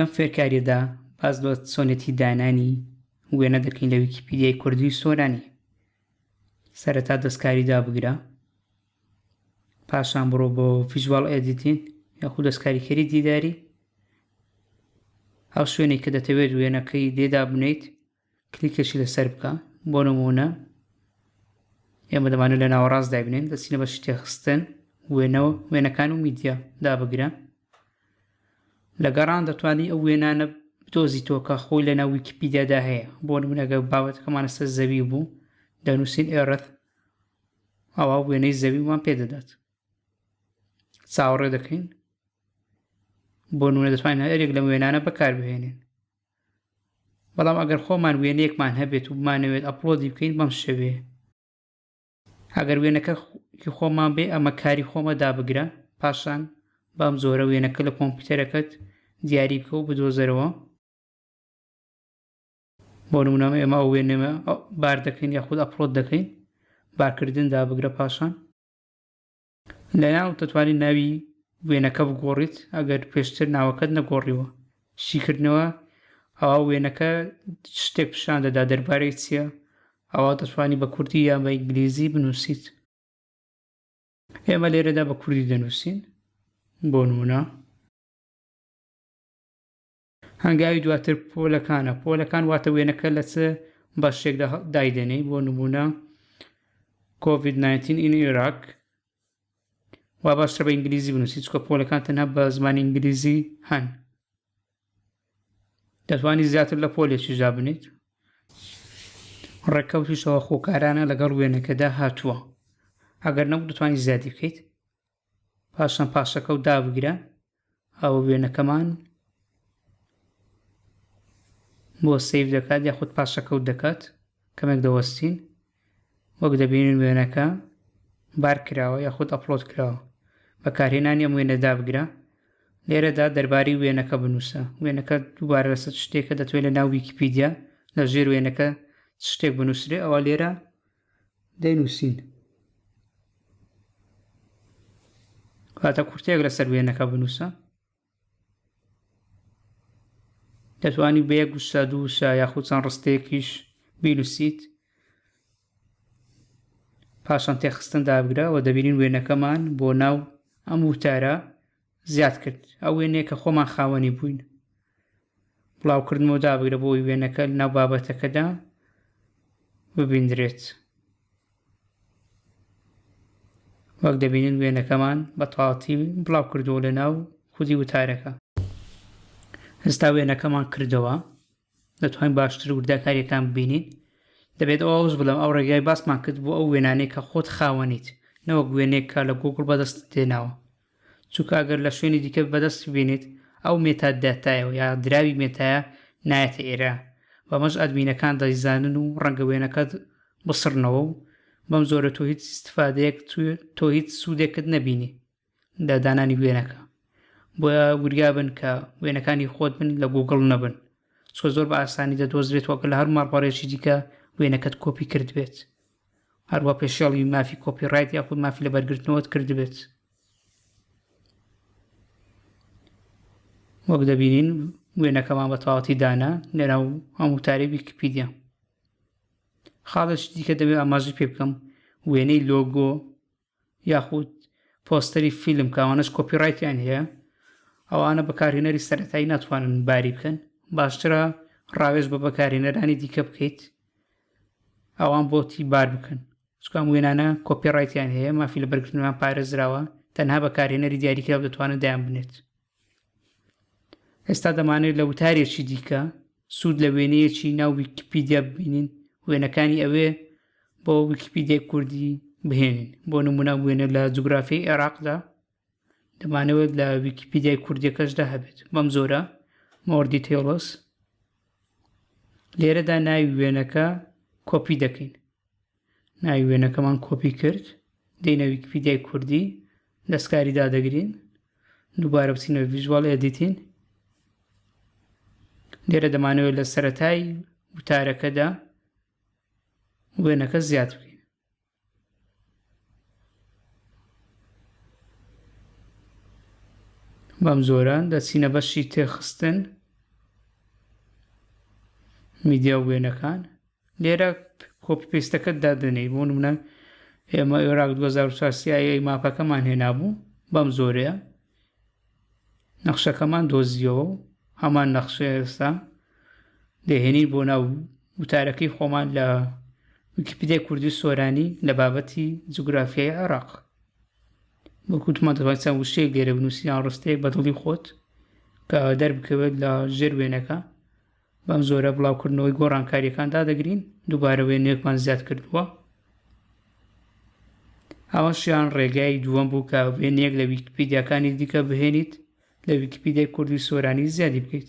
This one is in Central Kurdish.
لەم فێرکاریەدا باز لە چۆنێتی دانانی وێنە دەکەین لە ویکیپیدیای کوردی سۆرانی سەرەتا دەستکاری دابگرە پاشان بڕۆ بۆ فیژوال ئێدیتین یاخود دەستکاریکەری دیداری ئەو شوێنێک کە دەتەوێت وێنەکەی دێدا بنیت کلیکێکی لەسەر بکە بۆ نمونە ئێمە دەمانە لە ناوەڕاست دابنێن دەچینە بە شتێخستن وێنەوە وێنەکان و میدیا دابگرە لە گەڕان دەتوانانی ئەو وێنانە بدۆزی تۆکە خۆی لە ناو ویکیپیدیادا هەیە بۆ نمونەگە بابەتەکەمانە سەر زەوی بوو دەنووسین ئێرەت ئەوە وێنەی زەویمان پێدەدات چاوەڕێ دەکەین بۆ نوێ دەتوانین هەرێک لە وێنانە بەکاربهێنین بەڵام ئەگەر خۆمان وێنەیەکمان هەبێت و بمانەوێت ئەپلۆدی بکەین بەم شێوەیە ئەگەر وێنەکە کی خۆمان بێ ئەمە کاری خۆمە دابگرە پاشان بەم جۆرە وێنەکە لە کۆمپیوتەرەکەت دیاری بکە و بدۆزەرەوە بۆ نمونەمە ئێمە ئەو وێنەمە بار دەکەین یاخود ئەپلۆد دەکەین بارکردن دابگرە پاشان لەناو دەتوانیت ناوی وێنەکە بگۆڕیت ئەگەر پێشتر ناوەکەت نەگۆڕیوە شیکردنەوە ئەوا وێنەکە شتێک پیشان دەدا دەربارەی چییە ئەوا دەتوانی بە کوردی یان بە ئینگلیزی بنووسیت ئێمە لێرەدا بە کوردی دەنووسین بۆ نمونە هەنگاوی دواتر پۆلەکانە، پۆلەکان واتە وێنەکە لە چ بەشێکدا دایدەنێی بۆ نمونە کۆڤید 19 ئین عێراق وا باشترە بە ئینگلیزی بنووسی چکە پۆلەکان تەنها بە زمانی ئینگلیزی هەن دەتوانانی زیاتر لە پۆلێکیشدا بنیت ڕێککەوتیشەوە خۆکارانە لەگەڵ وێنەکەدا هاتووە ئەگەر نەبوو دەتوانانی زیادی بکەیت پاشان پاشەکە و دابگرە ئەوە وێنەکەمان بۆ سیف دەکات یاخود پاشەکەوت دەکات کەمێک دەوەستین وەک دەبینین وێنەکە بار کراوە یاخود ئەپلۆت کراوە بەکارهێنانی ئەم وێنە دابگرە لێرەدا دەرباری وێنەکە بنووسە وێنەکە دووبارە لەسەر شتێکە دەتوێت لە ناو ویکیپیدیا لە ژێر وێنەکە شتێک بنووسێ ئەوە لێرە دەینووسین. واتە کورتەیەک لەسەر وێنەکە بنووسە دەتوانی بە یەک وشە دوو وشە یاخود چەند ڕستەیەکیش بینوسیت پاشان تێخستن دابگرە و دەبینین وێنەکەمان بۆ ناو ئەم وتارە زیاد کرد، ئەو وێنەیە کە خۆمان خاوەنی بووین. بڵاوکردنەوە دابگرە بۆ ئەوەی وێنەکە لەناو بابەتەکەدا ببیندرێت. وەک دەبینن وێنەکەمان بە تەواوەتی بڵاو کردووە لەناو خودی وتارەکە. ئێستا وێنەکەمان کردەوە دەتوانین باشتر وردەکاریەکان ببینین دەبێت ئەو ئەوز بڵم ئەو ڕێگای باسمان کرد بۆ ئەو وێنانەی کە خۆت خاوەنیت نەوەک وێنێک کە لە گوگڵ بەدەست دێناوە چونکە ئەگەر لە شوێنی دیکە بەدەست بێنیت ئەو مێتا داتایە یا دراوی مێتایە نایەتە ئێرە بەمەش ئەدمینەکان دەیزانن و ڕەنگە وێنەکەت بسڕنەوە و بەم جۆرە تۆ هیچ ئیستفادەیەک تۆ هیچ سوودێکت نەبینی لە دانانی وێنەکە بۆیە وریا بن کە وێنەکانی خۆت بن لە گوگڵ نەبن چۆ زۆر بە ئاسانی دەدۆزرێت وەکە لە هەر ماڵپەڕێکی دیکە وێنەکەت کۆپی کرد بێت هەروا پێشێڵی مافی کۆپی ڕایت یاخود مافی لە بەرگرتنەوەت کردبێت وەک دەبینین وێنەکەمان بە تەواتی دانا لەرا و ئەم وتاری ویکیپیدیا خاڵێک دیکە دەبێت ئاماژی پێ بکەم وێنەی لۆگۆ یاخود پۆستەری فیلم کە ئەوانەش کۆپیڕایتیان هەیە ئەوانە بەکارهێنەری سەرەتایی ناتوانن باری بکەن باشترە ڕاوێژ بە بەکارهێنەرانی دیکە بکەیت ئەوان بۆتی بار بکەن چکام وێنانە کۆپیڕایتیان هەیە مافی لە بەرگرتنمان پارێزراوە تەنها بەکارهێنەری دیاریکراو دەتوانن دایان بنێت ئێستا دەمانەوێت لە وتارێکی دیکە سوود لە وێنەیەکی ناو ویکیپیدیا ببینین وێنەکانی ئەوێ بۆ ویکیپیدیای کوردی بهێنین بۆ نمونە وێنە لە جوگرافی عێراقدا دەمانەوێت لە ویکیپیدیای کوردیەکەشدا هەبێت بەم زۆرە مۆردی تێڵس لێرەدا ناوی وێنەکە کۆپی دەکەین ناوی وێنەکەمان کۆپی کرد دێنە ویکیپیدیای کوردی دەستکاری دادەگرین دووبارە بچینە ڤیژوال ئێدیتین لێرە دەمانەوە لە سەتای وتارەکەدا وێنەکە زیاد بکەین بەم جۆرە دەچینە بەشی تێخستن میدیا وێنەکان لێرە کۆپی پێستەکەت دادەنێی بۆ منە ئێمە ئێراق 2004 سیایی ماپەکەمان هێنابوو بەم زۆرەیە نەخشەکەمان دۆزیەوە و هەمان نەخشە ئێستا دەهێنی بۆ ناو وتارەکەی خۆمان لە ویکیپیدای کوردی سۆرانی لە بابەتی جوگرافیای عێراق وەکوتمان دەڵێت چەند وشەیەک لێرە بنووسیان ڕستەیەک بە دڵی خۆت کە دەربکەوێت لە ژێر وێنەکە بەم جۆرە بڵاوکردنەوەی گۆڕانکاریەکان دادەگرین دووبارە وێنەیەکمان زیاد کردووە ئەوەشیان ڕێگای دووەم بوو کە وێنەیەک لە ویکیپیدیاکانی دیکە بهێنیت لە ویکیپیدیای کوردی سۆرانی زیادی بکەیت